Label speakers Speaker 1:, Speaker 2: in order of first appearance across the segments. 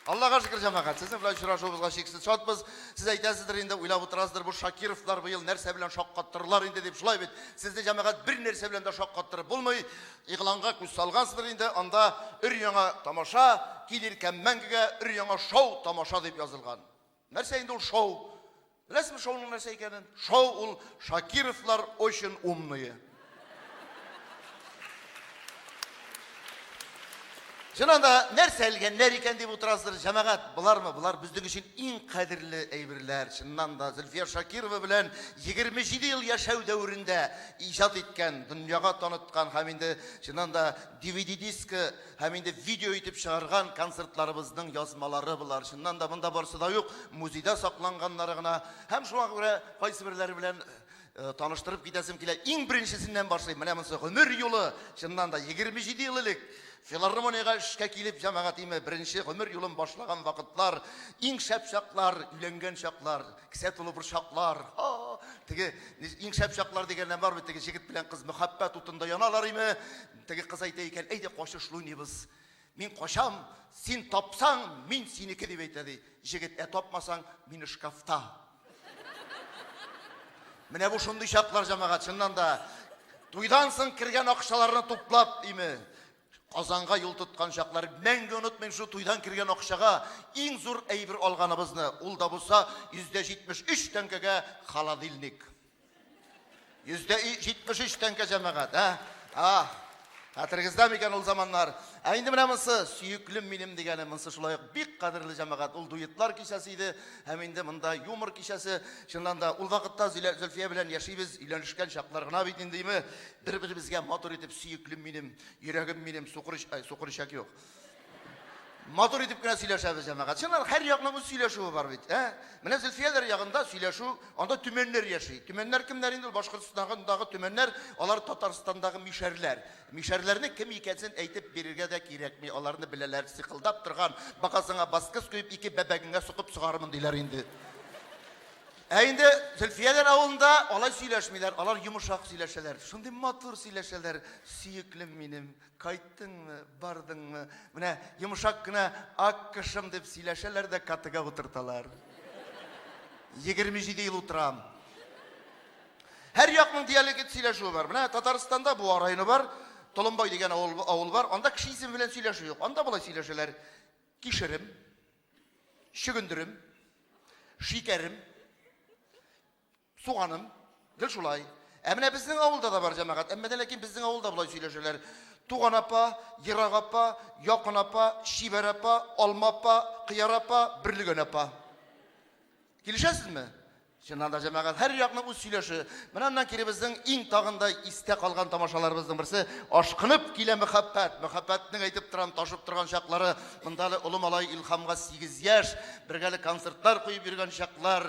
Speaker 1: Аллага шөкер, җәмәгать, сезнең белән очрашуыбызга чиксез шатбыз. Сез әйтәсездер инде, уйлап утырасыздыр, бу Шакировлар быел нәрсә белән шаккаттыралар инде дип, шулай бит. Сезне җәмәгать бер нәрсә белән дә шаккаттырып булмый. Игъланга күз салгансыздыр инде, анда өр-яңа тамаша, килер кәм мәңгегә өр-яңа шоу тамаша дип язылган. Нәрсә инде ул шоу? Беләсезме шоуның нәрсә икәнен? Шоу ул Шакировлар очень умные. Чыннан да нәрсә элгәннәр икән дип утырасыздар, җәмәгать, болармы? Болар безнең өчен иң кадерле әйберләр. Чыннан да Зөлфия Шакирова белән 27 ел яшәү дәверендә иҗат иткән, дөньяга таныткан һәм инде чыннан да DVD-дискы Һәм инде видео итеп чыгарган концертларыбызның язмалары болар. Чыннан да монда барсы да юк, музейда сакланганнары гына. Һәм шуңа күрә кайсы берләре белән э, таныштырып китәсем килә. Иң беренчесеннән башлыйм. Менә монысы гомер юлы. Чыннан да 27 ел элек филармониягә эшкә килеп, җәмәгатиме беренче гомер юлын башлаган вакытлар, иң шәп чаклар, өйләнгән чаклар, кесә тулы бер чаклар. Теге иң шәп чаклар дигәннән бар бит, теге җегет белән кыз мәхәббәт утында яналар име? Теге кыз әйтә икән, әйдә качыш луйныйбыз. Мин качам, син тапсаң, мин синеке, дип әйтә, ди. Җегет, ә тапмасаң, мине шкафта. Менә бу шундый чаклар, җәмәгать, чыннан да. Туйдан соң кергән акчаларны туплап, име, Казанга юл тоткан чаклар. Мәңге онытмыйм шул туйдан кергән акчага иң зур әйбер алганыбызны. Ул да булса 173 тәңкәгә холодильник. Йөздә 73 тәңкә җәмәгать, ә? А, хәтерегездә микән ул заманнар? Ә инде менә монсы, сөеклем минем дигәне, монсы шулай ук бик кадерле җәмәгать. Ул дуетлар кичәсе иде, һәм инде монда юмор кичәсе. Чыннан да, ул вакытта Зилә, Зөлфия белән яшибез, өйләнешкән чаклар гына бит инде, име? Бер-беребезгә матур итеп, сөеклем минем, йөрәгем минем, сукыр, ай, сукыр ишәк юк. Матур итеп кенә сөйләшәбез, җәмәгать. Чыннан, һәр якның үз сөйләшүе бар бит, ә? Менә Зөлфияләр ягында сөйләшү, анда төмәннәр яши. Төмәннәр кемнәр инде? Башкортстандагы төмәннәр, алар Татарстандагы мишәрләр. Мишәрләрнең кем икәнсен әйтеп бирергә дә кирәкми, аларны беләләр. Сыкылдап торган, багазыңа баскыс куеп, ике бәбәгеңә сукып сугармын, диләр инде. Ә инде Зөлфияләр авылында алай сөйләшмиләр, алар йомышак сөйләшәләр. Шундый матур сөйләшәләр, сөеклем минем, Кайттыңмы, бардыңмы? Менә йомшак кына ак кышым дип сөйләшәләр дә катыга утырталар. 27 ел утырам. Һәр якның диалект сөйләшүе бар. Менә Татарстанда Буа районы бар, Толымбай дигән авыл, авыл бар. Анда кеше исеме белән сөйләшү юк. Анда болай сөйләшәләр. Кишерем, чөгендерем, шикәрем, Суганым, гел шулай. Ә менә безнең авылда да бар җәмәгать, әмма дә ләкин безнең авылда болай сөйләшәләр. Туган апа, ерак апа, якын апа, чибәр апа, алма апа, кыяр апа, берлегән апа. Килешәсезме? Чыннан да җәмәгать һәр якның үз сөйләше. Менә аннан кире безнең иң тагында истә калган тамашаларыбызның берсе ашкынып килә мәхәббәт. Мәхәббәтнең әйтеп торам ташып торган чаклары. Монда әле олы малай Илхамга 8 яшь, бергәле концертлар куеп йөргән чаклар.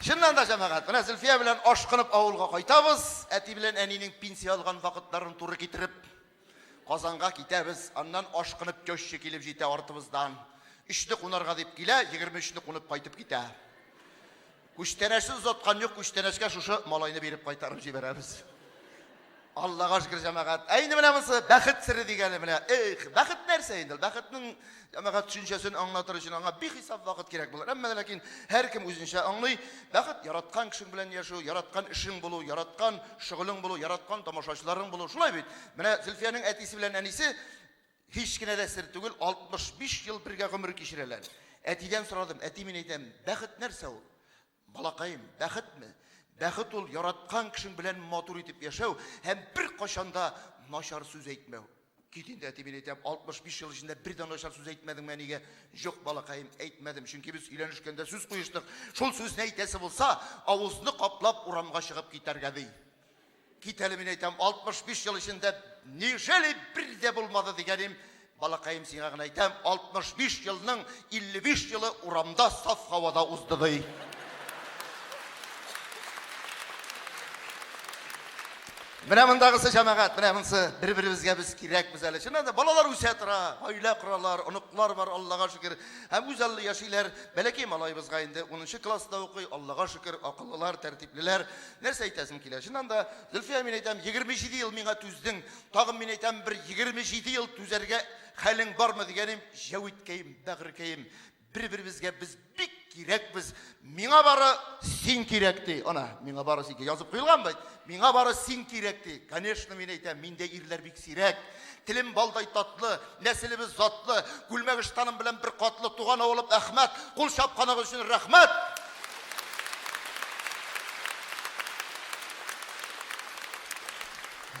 Speaker 1: Чыннан да, җәмәгать, менә Зөлфия белән ашкынып авылга кайтабыз, әти белән әнинең пенсия алган вакытларын туры китереп, Казанга китәбез, аннан ашкынып теща килеп җитә артыбыздан. Өчне кунарга дип килә, 23 не кунып кайтып китә. Күчтәнәчне озаткан юк, күчтәнәчкә шушы малайны биреп кайтарып җибәрәбез. Аллага шөкер, җәмәгать. Ә инде менә монсы бәхет сире дигәне менә. Эх, бәхет нәрсә инде? Бәхетнең җәмәгать төшенчәсен аңлатыр өчен аңа бихисап вакыт кирәк булыр. Әмма ләкин һәркем үзенчә аңлый. Бәхет яраткан кешең белән яшәү, яраткан эшең булу, яраткан шөгылең булу, яраткан тамашачыларың булу. Шулай бит. Менә Зөлфиянең әтисе белән әнисе һич кенә дә сер түгел, 65 ел бергә гомер кичерәләр. Әтидән сорадым, әти, мин әйтәм, бәхет нәрсә ул? Балакаем, бәхетме? Бәхет ул яраткан кешең белән матур итеп яшәү һәм беркайчан да начар сүз әйтмәү. Кит инде, әти, мин әйтәм, 65 ел эчендә бер дә начар сүз әйтмәдеңме әнигә? Юк, балакаем, әйтмәдем, чөнки без өйләнешкәндә сүз куештык. Шул сүзне әйтәсе булса, авызны каплап урамга чыгып китәргә, ди. Кит әле, мин әйтәм, 65 ел эчендә неужели бер дә булмады дигәнем, балакаем сиңа гына әйтәм, 65 елның 55 елы урамда саф һавада узды ди. Менә мондагысы җәмәгать, менә монсы бер-беребезгә без кирәкбез әле. Чыннан да балалар үсә тора, гаилә коралар, оныклар бар, Аллага шөкер. Һәм үзаллы яшиләр. Бәләкәй малаебызга инде 10 класста укый, Аллага шөкер, акыллылар, тәртиплеләр. Нәрсә әйтәсең килә? Чыннан да, Зөлфия, мин әйтәм, 27 ел миңа түздең, тагын мин әйтәм, бер 27 ел түзәргә хәлең бармы дигәнем, Җәвиткәем, бәгырькәем, бер-беребезгә без бик кирәкбез. Миңа бары син кирәк ди. Ана, миңа бары син кирәк. Язып куелган бит. Миңа бары син кирәк ди. Конечно, мин әйтәм, миндә ирләр бик сирәк. Телем балдай татлы, нәселебез затлы, Күлмәгештаным белән бер катлы, туган авылым Әхмәт, кул чапканыгыз өчен рәхмәт!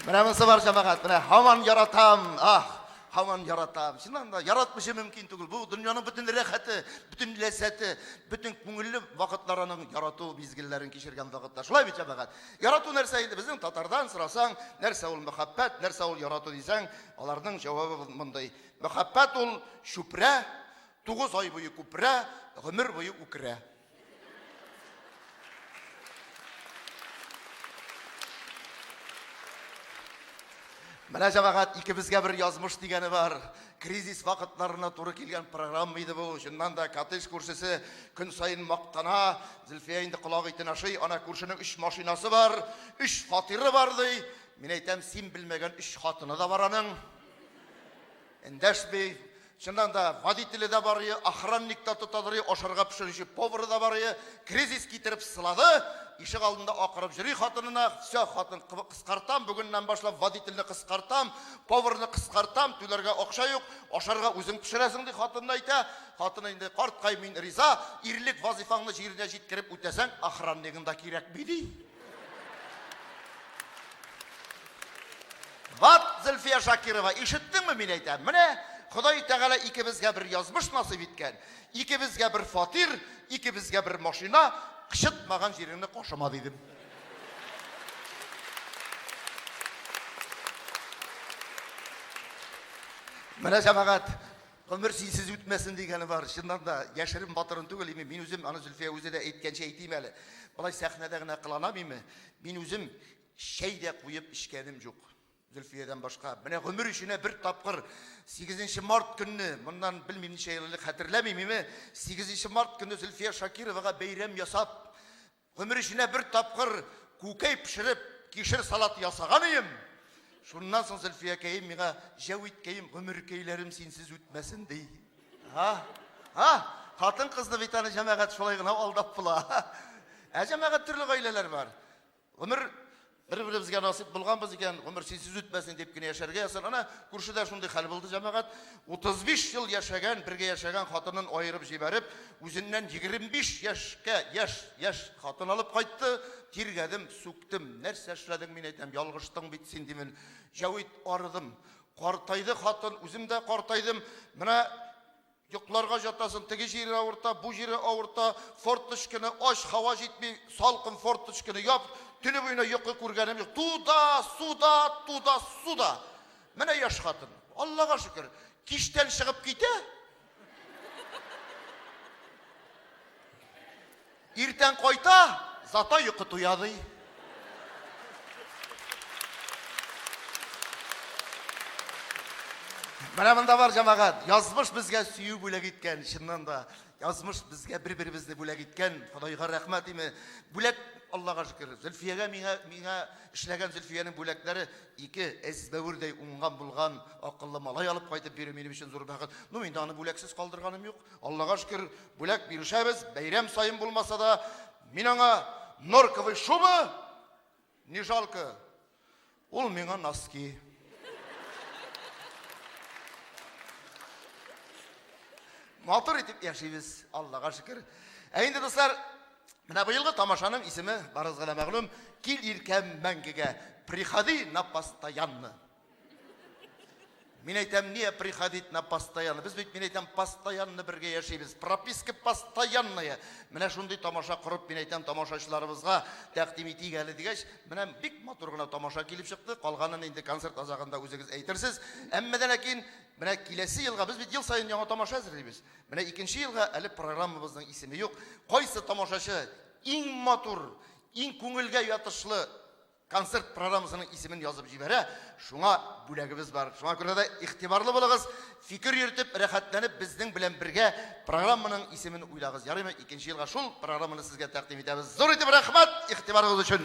Speaker 1: Менә монысы бар җәмәгать, менә һаман яратам, ах, һаман яратам. Чыннан да яратмыйча мөмкин түгел. Бу дөньяның бөтен рәхәте, бөтен ләззәте, бөтен күңелле вакытларының ярату мизгелләрен кичергән вакытта. Шулай бит җәмәгать. Ярату нәрсә инде безнең татардан сорасаң, нәрсә ул мәхәббәт, нәрсә ул ярату дисәң, аларның җавабы мондый. Мәхәббәт ул чүпрә, тугыз ай буе күпрә, гомер буе үкерә. Менә җәмәгать икебезгә бер язмыш дигәне бар. Кризис вакытларына туры килгән программа иде бу. Чыннан да, коттедж күршесе көн саен мактана. Зөлфия инде колак итен ашый. Ана күршенең өч машинасы бар, өч фатиры бар, ди. Мин әйтәм, син белмәгән өч хатыны да бар аның. Эндәшми. Чыннан да, водителе дә бар, охранник та тотадыр, ашарга пешерүче повары да бар. Кризис китереп сылады. Ишек алдында акырып йөри хатынына. Все, хатын, кыскартам, бүгеннән башлап водительне кыскартам. Поварны кыскартам, түләргә акча юк, ашарга үзең пешерәсең, ди хатынына әйтә. Хатыны инде, Карткай, мин риза, ирлек вазыйфаңны җиренә җиткереп үтәсәң, охраннигың да кирәкми, ди. Ват, Зөлфия Шакирова, ишеттеңме, мин әйтәм, менә Ходай Тәгалә икебезгә бер язмыш насыйп иткән, икебезгә бер фатир, икебезгә бер машина, кычытмаган җиреңне кашама, дидем. Менә җәмәгать, гомер синсез үтмәсен дигәне бар. Чыннан да, яшерен батырын түгел име, мин үзем, аны Зөлфия үзе дә әйткәнчә әйтим әле. Болай сәхнәдә генә кыланам име, мин үзем чәй дә куеп эчкәнем юк. Зөлфиядән башка. Менә гомер эченә бер тапкыр 8 март көнне, моннан белмим ничә ел элек хәтерләмим име, 8 март көнне Зөлфия Шакировага бәйрәм ясап, Гомер эченә бер тапкыр күкәй пешереп, кишер салаты ясаган ием. Шуннан соң Зөлфиякәем миңа, Җәвиткәем, гомеркәйләрем синсез үтмәсен, ди. Һа? Һа? Хатын-кызны бит аны җәмәгать шулай гына алдап була. Ә җәмәгать төрле гаиләләр бар. Гомер Бер-беребезгә насыйп булганбыз икән, гомер синсез үтмәсен дип кенә яшәргә язсын. Ана, күршедә шундый хәл булды, җәмәгать. 35 ел яшәгән, бергә яшәгән хатынын аерып җибәреп, үзеннән 25 яшькә яшь, яшь хатын алып кайтты. Тиргәдем, сүктем. Нәрсә эшләдең, мин әйтәм, ялгыштың бит син, димен. Җәвит, арыдым. Картайды хатын, үзем дә картайдым. Менә Йокларга җатасың, теге җире авырта, бу җире авырта, форточканы ач, һава җитми, салкын, форточканы яп, төне буена йокы күргәнем юк. Туда, суда, туда, суда. Менә яшь хатын. Аллага шөкер, кичтән чыгып китә. Иртән кайта, зато йокы туя, ди. Менә монда бар җәмәгать. Язмыш безгә сөю бүләк иткән, чыннан да. Язмыш безгә бер-беребезне бүләк иткән. Ходайга рәхмәт име. Бүләк, Аллага шөкер. Зөлфиягә миңа, миңа эшләгән Зөлфиянең бүләкләре ике әзбәвердәй уңган булган акыллы малай алып кайтып бирү минем өчен зур бәхет. Ну, инде аны бүләксез калдырганым юк. Аллага шөкер, бүләк бирешәбез, бәйрәм саен булмаса да, мин аңа норковый шуба, не жалко, ул миңа носки. Матур итеп яшибез, Аллага шөкер. Ә инде, дуслар, менә быелгы тамашаның исеме барыгызга да мәгълүм, Кил иркәм мәңгегә, приходи на постоянно. Мин әйтәм, не приходить на постоянно. Без бит, мин әйтәм, постоянно бергә яшибез. Прописка постоянная. Менә шундый тамаша корып, мин әйтәм, тамашачыларыбызга тәкъдим итик әле дигәч, менә бик матур гына тамаша килеп чыкты. Калганын инде концерт азагында үзегез әйтерсез. Әмма дә ләкин менә киләсе елга без бит ел саен яңа тамаша әзерлибез. Менә икенче елга әле программабызның исеме юк. Кайсы тамашачы иң матур, иң күңелгә ятышлы концерт программасының исемен язып җибәрә. Шуңа бүләгебез бар. Шуңа күрә дә игътибарлы булыгыз, фикер йөртеп, рәхәтләнеп безнең белән бергә программаның исемен уйлагыз. Ярыймы? Икенче елга шул программаны сезгә тәкъдим итәбез. Зур итеп рәхмәт игътибарыгыз өчен!